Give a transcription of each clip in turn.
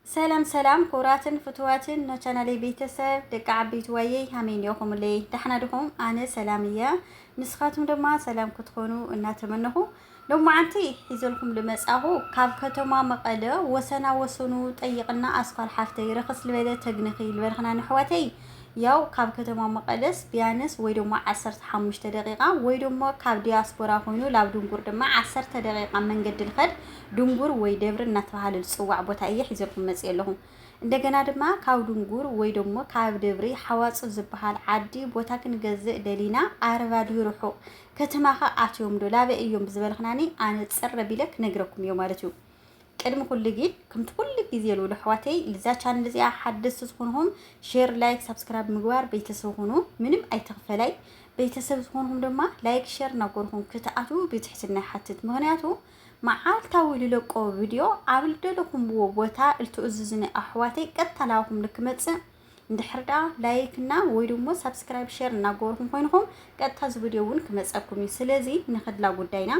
ሰላም ሰላም ኩቡራትን ፍትዋትን ን ቻናለይ ቤተሰብ ደቂ ዓበይቲ ዋየይ ሃመይ ኔኹምለይ ዳሕና ድኹም ኣነ ሰላም እየ ንስኻትኩም ድማ ሰላም ክትኾኑ እናተመነኹ ሎማዓንቲ ሒዘልኩም ልመጻኹ ካብ ከተማ መቐለ ወሰና ወሰኑ ጠይቕና ኣስኳል ሓፍተይ ረኸስ ልበለ ተግንኺ ልበልኽና ነሕዋተይ ያው ካብ ከተማ መቐለስ ቢያንስ ወይ ደሞ ዓሰርተ ሓሙሽተ ደቂቃ ወይ ደሞ ካብ ዲያስፖራ ኮይኑ ላብ ድንጉር ድማ ዓሰርተ ደቂቃ መንገዲ ልኸድ ድንጉር ወይ ደብሪ እናተባሃለ ዝጽዋዕ ቦታ እየ ሒዘልኩም መጺኤ ኣለኹ። እንደገና ድማ ካብ ድንጉር ወይ ደሞ ካብ ደብሪ ሓዋጽ ዝበሃል ዓዲ ቦታ ክንገዝእ ደሊና ኣርባ ድዩ ርሑቕ ከተማኸ ኣትዮም ዶ ላበይ እዮም ብዝበልኽናኒ ኣነ ጽር ኣቢለ ክነግረኩም እዮ ማለት እዩ። ቅድሚ ኩሉ ግን ከምቲ ኩሉ ግዜ ልብሎ ኣሕዋተይ ልዛ ቻነል እዚኣ ሓደስቲ ዝኾንኹም ሼር ላይክ ሳብስክራይብ ምግባር ቤተሰብ ኹኑ ምንም ኣይተኽፈላይ ቤተሰብ ዝኾንኹም ድማ ላይክ ሼር እናጎርኹም ክትኣትዉ ብትሕትና ይሓትት ምክንያቱ መዓልታዊ ልለቆ ቪድዮ ኣብ ልደለኹምዎ ቦታ ልትእዝዙኒ ኣሕዋተይ ቀጥታ ናባኹም ልክመፅእ እንድሕር ደኣ ላይክ እና ወይ ደሞ ሳብስክራይብ ሸር እናገበርኩም ኮይንኹም ቀጥታ እዚ ቪድዮ እውን ክመፀኩም እዩ ስለዚ ንክድላ ጉዳይና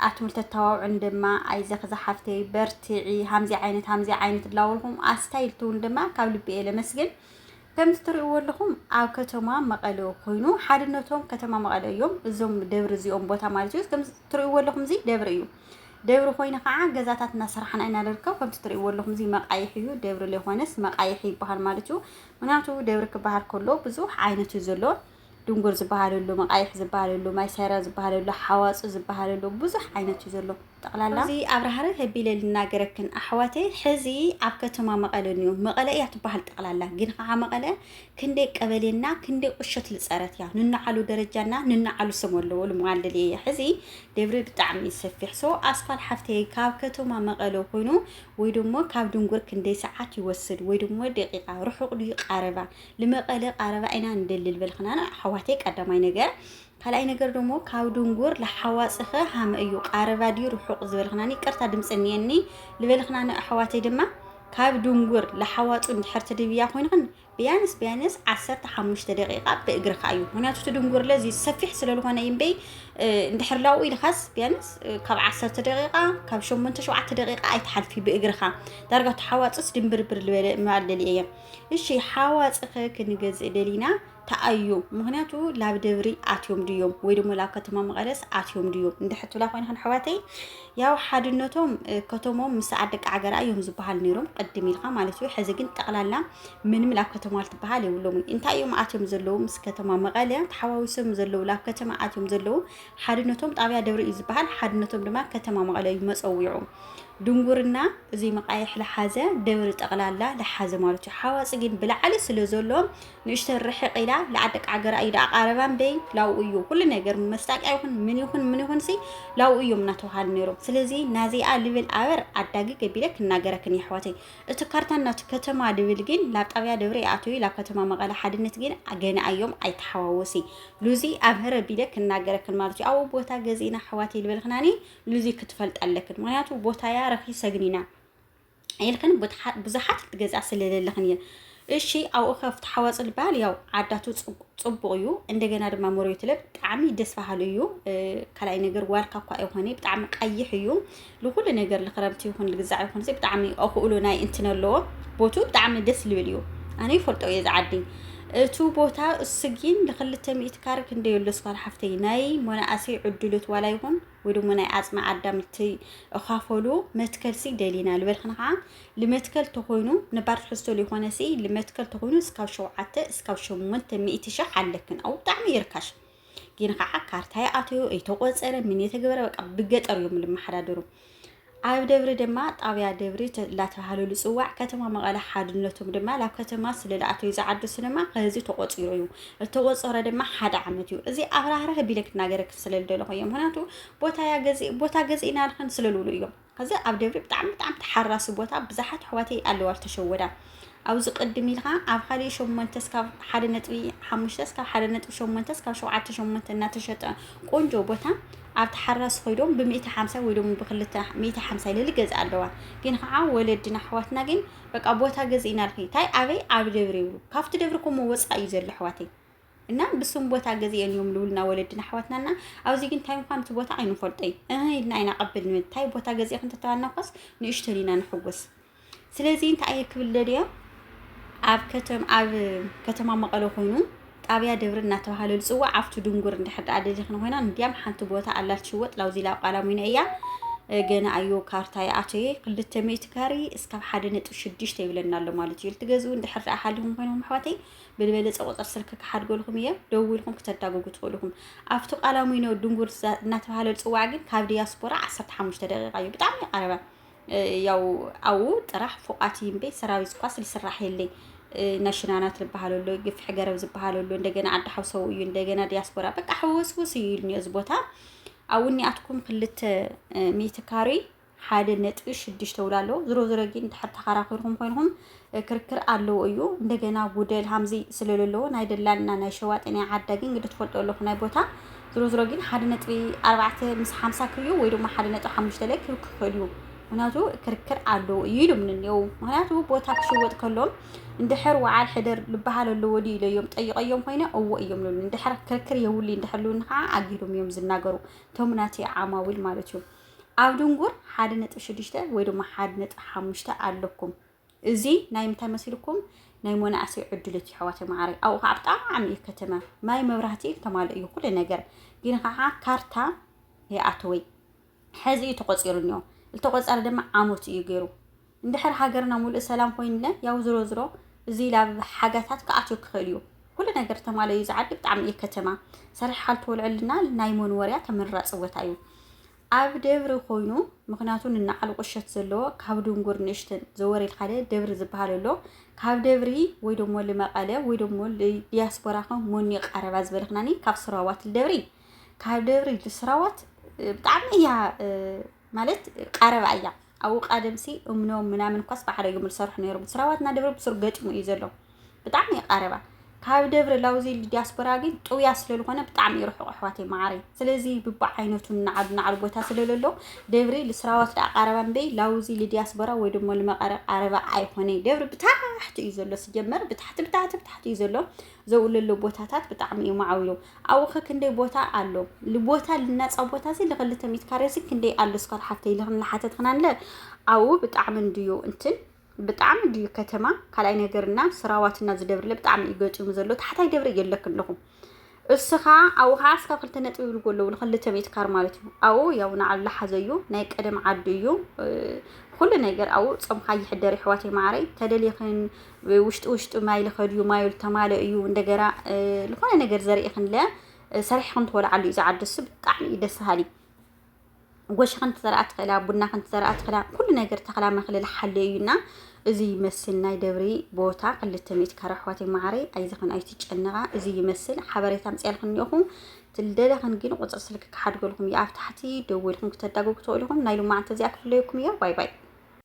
ኣቱም ተተዋውዑን ድማ ኣይዘኺ ዝሓፍተይ በርትዒ ሃምዚ ዓይነት ሃምዚ ዓይነት እላበልኹም ኣስታይልትውን ድማ ካብ ልቢ እየ ለመስግን ከምቲ ትሪእዎ ኣለኹም ኣብ ከተማ መቐለ ኮይኑ ሓድነቶም ከተማ መቐለ እዮም እዞም ደብሪ እዚኦም ቦታ ማለት እዩ። ከምዚ ትሪእዎ ኣለኹም እዚ ደብሪ እዩ። ደብሪ ኮይኑ ከዓ ገዛታት እናሰራሕና ኢና ንርከብ ከምቲ ትሪእዎ ኣለኹም እዚ መቃይሕ እዩ ደብሪ ዘይኮነስ መቃይሕ ይበሃል ማለት እዩ ምክንያቱ ደብሪ ክበሃል ከሎ ብዙሕ ዓይነት እዩ ዘሎ ድንጉር ዝበሃለሉ መቃይሕ ዝበሃለሉ ማይሰራ ዝበሃለሉ ሓዋፁ ዝበሃለሉ ብዙሕ ዓይነት እዩ ዘሎ ጠቅላላ። እዚ ኣብራሃርህ ኣቢለ ልናገረክን ኣሕዋተይ ሕዚ ኣብ ከተማ መቐለ ንዩ መቐለ እያ ትበሃል ጠቕላላ ግን ከዓ መቐለ ክንደይ ቀበሌና ክንደይ ቁሸት ልፀረት እያ ንናዓሉ ደረጃና ንናዓሉ ስም ኣለዎ ልምዋልል እየ ሕዚ ደብሪ ብጣዕሚ ሰፊሕ ሶ ኣስኳል ሓፍተይ ካብ ከተማ መቐለ ኮይኑ ወይ ድሞ ካብ ድንጉር ክንደይ ሰዓት ይወስድ ወይ ድሞ ደቂቃ ርሑቕ ድዩ ቃረባ ልመቐለ ቃረባ ኢና ንደሊ ልበልክና ኣሕዋተይ ቀዳማይ ነገር ካልኣይ ነገር ደሞ ካብ ድንጉር ልሓዋጽኸ ሃመ እዩ ቃረባ ድዩ ርሑቅ ዝበልክናኒ ይቅርታ ድምጺ እንየኒ ልበልክናኒ ኣሕዋተይ ድማ ካብ ድንጉር ልሓዋጹ እንድሕር ትድብያ ኮይንክን ብያንስ ብያንስ ዓሰርተ ሓሙሽተ ደቂቃ ብእግርካ እዩ ምክንያቱ እቲ ድንጉር ለዚ ሰፊሕ ስለልኾነ ይምበይ እንድሕር ላኡ ኢልካስ ብያንስ ካብ ዓሰርተ ደቂቃ ካብ ሸሞንተ ሸውዓተ ደቂቃ ኣይትሓልፊ ብእግርካ ዳርጋ ተሓዋጽስ ድንብርብር ልበለ ምባል ደልየ እየ እሺ ሓዋጽኸ ክንገዝእ ደሊና ተኣዩ ምክንያቱ ላብ ደብሪ ኣትዮም ድዮም ወይ ደሞ ላብ ከተማ መቐደስ ኣትዮም ድዮም እንድሕር ትብላ ኮይንክን ኣሕዋተይ ያው ሓድነቶም ከተሞም ምስ ዓደቂ ዓገራ እዮም ዝበሃል ነይሮም ቅድም ኢልካ ማለት እዩ ሕዚ ግን ጠቕላላ ምንም ላብ ከተማ ልትበሃል የብሎምን እንታይ እዮም ኣትዮም ዘለዉ ምስ ከተማ መቐለ ተሓዋዊሶም ዘለዉ ላብ ከተማ ኣትዮም ዘለዉ ሓድነቶም ጣብያ ደብሪ እዩ ዝበሃል ሓድነቶም ድማ ከተማ መቐለ እዩ መፀዊዑ ድንጉርና እዚ መቃየሕ ልሓዘ ደብሪ ጠቕላላ ልሓዘ ማለት እዩ ሓዋፂ ግን ብላዕሊ ስለ ዘሎ ንእሽተይ ርሕቅ ኢላ ልዓል ደቂ ዓገራ እዩ ደኣ ቃረባ እምበይ ላብኡ እዩ ኩሉ ነገር መስጣቅያ ይኹን ምን ይኹን ምን ይኹን ሲ ላብኡ እዮም እናተባሃሉ ነይሮም ስለዚ ናዚኣ ልብል ኣበር ኣዳጊ ገቢለ ክናገረክን የሕዋተይ እቲ ካርታ ናቱ ከተማ ልብል ግን ላብ ጣብያ ደብረ ይኣትዊ ላብ ከተማ መቐለ ሓድነት ግን ገና እዮም ኣይተሓዋወሲ ሉዚ ኣብ ህረ ቢለ ክናገረክን ማለት እዩ ኣብኡ ቦታ ገዚእና ኣሕዋተይ ልበልክናኒ ሉዚ ክትፈልጥ ኣለክን ምክንያቱ ቦታያ ረኪ ሰግኒና ኢልክን ብዙሓት ክትገዝኣ ስለለለኽን እየ እሺ ኣብኡ ከፍቲ ሓዋፅ ልበሃል ያው ዓዳቱ ፅቡቅ እዩ እንደገና ድማ መሬቱ ለ ብጣዕሚ ደስ በሃሉ እዩ ካልኣይ ነገር ዋልካ እኳ ይኾነ ብጣዕሚ ቀይሕ እዩ ንኩሉ ነገር ንክረምቲ ይኹን ልግዛዕ ይኹን ብጣዕሚ ኣኽእሎ ናይ እንትን ኣለዎ ቦቱ ብጣዕሚ ደስ ልብል እዩ ኣነ ይፈልጦ እየ ዝዓዲ እቱ ቦታ እሱ ግን ንክልተ ሚእት ካር ክንደይ ኣሎ ስኳል ሓፍተይ ናይ መናእሰይ ዕድሎት ዋላ ይኹን ወይ ደሞ ናይ ዓጽሚ ኣዳም እቲ እኻፈሉ መትከል ሲ ደሊና ልበልክን ከዓ ልመትከል ተኾይኑ ነባር ትሕዝቶ ሊኾነ ሲ ልመትከል ተኾይኑ እስካብ ሸውዓተ እስካብ ሸሞንተ ሚእቲ ሸሕ ኣለክን ኣው ብጣዕሚ ይርካሽ ግን ከዓ ካርታ ይኣተዩ እይተቆፀረ ምን የተገበረ በቃ ብገጠር እዮም ልመሓዳደሩ ኣብ ደብሪ ድማ ጣብያ ደብሪ ላተባሃሉ ልፅዋዕ ከተማ መቐለ ሓድነቶም ድማ ላብ ከተማ ስለ ልኣተዩ ዝዓዱ ስንማ ከዚ ተቆፂሩ እዩ እተቆፀረ ድማ ሓደ ዓመት እዩ እዚ ኣብራህራህ ቢለ ክናገረክ ስለ ልደለኹ እዮም ምክንያቱ ቦታ ያ ገዚ ቦታ ገዚ ኢና ንክን ስለ ልብሉ እዮም ከዚ ኣብ ደብሪ ብጣዕሚ ብጣዕሚ ተሓራሲ ቦታ ብዙሓት ኣሕዋተይ ኣለዋ ተሸወዳ ኣብዚ ቅድም ኢልካ ኣብ ሓደ ሸሞንተ ስካብ ሓደ ነጥቢ ሓሙሽተ ስካብ ሓደ ነጥቢ ሸሞንተ ስካብ ሸውዓተ ሸሞንተ እናተሸጠ ቆንጆ ቦታ ኣብ ተሓራስ ኮይዶም ብሚእቲ ሓምሳ ወይ ደሞ ብክልተ ሚእቲ ሓምሳ ኢለ ልገዝእ ኣለዋ ግን ከዓ ወለድና ኣሕዋትና ግን በቃ ቦታ ገዝእና ልኺ እንታይ ኣበይ ኣብ ደብሪ ይብሉ ካብቲ ደብሪ ኮሞ ወፃእ እዩ ዘሎ ኣሕዋተይ እና ብስም ቦታ ገዝእን እዮም ልብሉና ወለድና ኣሕዋትና እና ኣብዚ ግን እንታይ ምኳኑ እቲ ቦታ ኣይንፈልጦይ እህ ኢልና ኢና ቀብል ንብል እንታይ ቦታ ገዚእኽ እንተተባልና ኳስ ንእሽተን ኢና ንሕጎስ ስለዚ እንታይ እየ ክብል ደልየ ኣብ ከተም ኣብ ከተማ መቐለ ኮይኑ ጣብያ ደብሪ እናተባሃለ ዝፅዋዕ ኣብቲ ድንጉር እንድሕር ደኣ ደሊኽን ኮይና እንዲያም ሓንቲ ቦታ ኣላ ትሽወጥ ላውዚላ ቃላሚኖ እያ ገና ኣዮ ካርታ ይኣተየ ክልተ ሚእቲ ካሪ እስካብ ሓደ ነጥቢ ሽዱሽተ ይብለና ኣሎ ማለት እዩ ልትገዝኡ እንድሕር ደኣ ሓሊኹም ኮይኖም ኣሕዋተይ ብልበለፀ ቁፅር ስልኪ ክሓድገልኩም እየ ደውልኩም ክተዳግጉ ትኽእሉ ኢኹም ኣብቲ ቃላሚኖ ድንጉር እናተባሃለ ዝፅዋዕ ግን ካብ ዲያስፖራ ዓሰርተ ሓሙሽተ ደቂቃ እዩ ብጣዕሚ ቀረባ ያው ኣብኡ ጥራሕ ፎቓት እዩ እምበይ ሰራዊት ኳስ ዝስራሕ የለይ ናይ ሽናናት ዝበሃል ኣሎ ግፍሒ ገረብ ዝበሃል ኣሎ እንደገና ዓዲ ሓውሰው እዩ እንደገና ዲያስፖራ በቃ ሕውስውስ እዩ ኢሉኒ እዚ ቦታ ኣብኡ እኒኣትኩም ክልተ ሚእቲ ካሬ ሓደ ነጥቢ ሽዱሽተ ውላ ኣለዎ ዝሮ ዝሮ ግን ድሕር ተኸራኺርኩም ኮይንኩም ክርክር ኣለዎ እዩ እንደገና ጉደል ሃምዚ ስለለለዎ ናይ ደላልና ናይ ሸዋጢ ናይ ዓዳ ግን ግዲ ትፈልጦ ኣለኹ ናይ ቦታ ዝሮ ዝሮ ግን ሓደ ነጥቢ ኣርባዕተ ምስ ሓምሳ ክዩ ወይ ድማ ሓደ ነጥቢ ሓሙሽተ ላይ ክብ ክኽእል እዩ ምክንያቱ ክርክር ኣለዎ እዩ ኢሎም ንኔው ምክንያቱ ቦታ ክሽወጥ ከሎም እንድሕር ወዓል ሕደር ልበሃል ኣለዎ ድዩ ኢለ እዮም ጠይቀዮም ኮይነ እዎ እዮም ልሉ እንድሕር ክርክር የውሉ እንድሕር ልውን ከዓ ኣጊዶም እዮም ዝናገሩ እቶም ናተይ ዓማዊል ማለት እዩ ኣብ ድንጉር ሓደ ነጥቢ ሽዱሽተ ወይ ድማ ሓደ ነጥቢ ሓሙሽተ ኣለኩም እዚ ናይ ምንታይ መሲልኩም ናይ ሞናእሰይ ዕድልት እዩ ኣሕዋተይ መዓረይ ኣብኡ ከዓ ብጣዕሚ እዩ ከተማ ማይ መብራህቲ ተማልእ እዩ ኩሉ ነገር ግን ከዓ ካርታ የኣተወይ ሕዚ እዩ ተቆፂሩ እኒኦ ዝተቆፀረ ድማ ዓመቱ እዩ ገይሩ እንድሕር ሃገርና ሙሉእ ሰላም ኮይንለ ያው ዝሮ ዝሮ እዚ ላብ ሓጋታት ክኣትዮ ክኽእል እዩ ኩሉ ነገር ተማለ እዩ ዝዓዲ ብጣዕሚ እዩ ከተማ ሰሪሕ ካልትወልዐልና ናይ መንወርያ ተመራፂ ቦታ እዩ ኣብ ደብሪ ኮይኑ ምክንያቱ ንናዓሉ ቁሸት ዘለዎ ካብ ድንጉር ንሽትን ዘወሬድ ሓደ ደብሪ ዝበሃል ኣሎ ካብ ደብሪ ወይ ደሞ ልመቀለ ወይ ደሞ ልዲያስፖራ ከም ሞኒ ቃረባ ዝበልክናኒ ካብ ስራዋት ልደብሪ ካብ ደብሪ ልስራዋት ብጣዕሚ እያ ማለት ቃረባ እያ ኣብኡ ቃደምሲ እምኖ ምናምን እኳስ ብሓደግም ዝሰርሑ ነይሮም ስራዋት እና ደብረ ብሱር ገጥሙ እዩ ዘሎ ብጣዕሚ ይቃረባ ካብ ደብረ ላውዚ ዲያስፖራ ግን ጥውያ ስለዝኾነ ብጣዕሚ ይርሕቁ ኣሕዋተይ መዓረይ ስለዚ ብብዓይነቱ ናዓዱ ናዓዱ ቦታ ስለለሎ ደብሪ ልስራዋት ዳኣ ቃረባ እምበይ ላውዚ ልዲያስፖራ ወይ ደሞ ልመቐረ ቃረባ ኣይኮነይ ደብሪ ብታሕቲ እዩ ዘሎ ስጀመር ብታሕቲ ብታሕቲ ብታሕቲ እዩ ዘሎ ዘውልሉ ቦታታት ብጣዕሚ እዩ ማዕዊሉ ኣብኡ ከ ክንደይ ቦታ ኣሎ ልቦታ ልናፃ ቦታ እዚ ልክልተ ሚት ካሬ እዚ ክንደይ ኣሎ ስኳር ሓፍተይ ልክን ልሓተትክና ንለ ኣብኡ ብጣዕሚ እንድዩ እንትን ብጣዕሚ እንድዩ ከተማ ካልኣይ ነገርና ስራዋትና ዝደብርለ ብጣዕሚ እዩ ገጢሙ ዘሎ ታሕታይ ደብሪ የለክ ኣለኹ እስኻ ኣብኡ ከዓ እስካ ክልተ ነጥቢ ይብልዎ ኣለዉ ንክልተ ሚት ካር ማለት እዩ ኣብኡ ያው ንዓሉ ልሓዘ እዩ ናይ ቀደም ዓዱ እዩ ኩሉ ነገር ኣብኡ ፀምካ ይሕደር ይሕዋተይ ማዕረይ ተደሊኽን ውሽጢ ውሽጢ ማይል ከድዩ ማይል ተማለ እዩ እንደገና ዝኾነ ነገር ዘርእኽንለ ሰሪሕኽን ትወልዓሉ እዩ ዝዓዲ እሱ ብጣዕሚ እዩ ደስ በሃሊ ጎሽኽን ትዘርኣ ትኽእላ ቡናኽን ትዘርኣ ትኽእላ ኩሉ ነገር ተኽላ መኽልል ሓለ እዩና እዚ ይመስል ናይ ደብሪ ቦታ ክልተ ሚእቲ ካረ ኣሕዋት መዓረይ ኣይዘኽን ኣይትጨነቓ እዚ ይመስል ሓበሬታ ምፅያልክን እኒኦኹ ትልደለኽን ግን ቁፅሪ ስልክ ክሓድገልኩም እዩ ኣብ ታሕቲ ደወልኩም ክተዳጎ ክትኽእልኹም ናይ ሎማዓንቲ እዚኣ ክፍለየኩም እያ ባይ ባይ